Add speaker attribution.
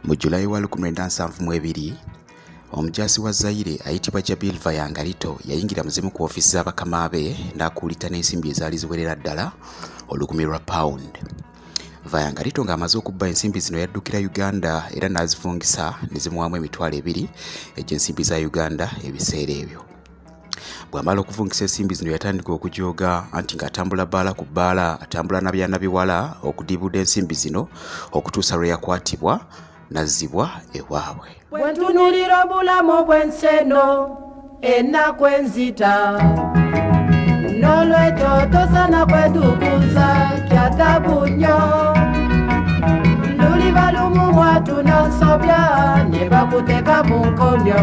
Speaker 1: Mu Julayi wa 1972 omujaasi wa Zaire ayitibwa Jabil Vayangalito yayingira mu zimu ku ofiisi za bakama be n'akuulita n'ensimbi ezaali ziwerera ddala olukumi lwa pound. Vayangalito ng'amaze okubba ensimbi zino yaddukira Uganda era n'azifungisa ne zimuwaamu emitwalo ebiri egy'ensimbi za Uganda ebiseera ebyo. bwamala okuvungisa ensimbi zino yatandika okujooga anti ng'atambula bbaala ku bbaala atambula na byana biwala okudibuda ensimbi zino okutuusa lwe yakwatibwa nazzibwa ewaabwe bwentunulira
Speaker 2: obulamu bw'ensi eno ennaku enzita n'olwekyo tosana kwetukuza kyatabu nnyo luli balumu mwatu n'osobya ne bakuteka mu nkomyo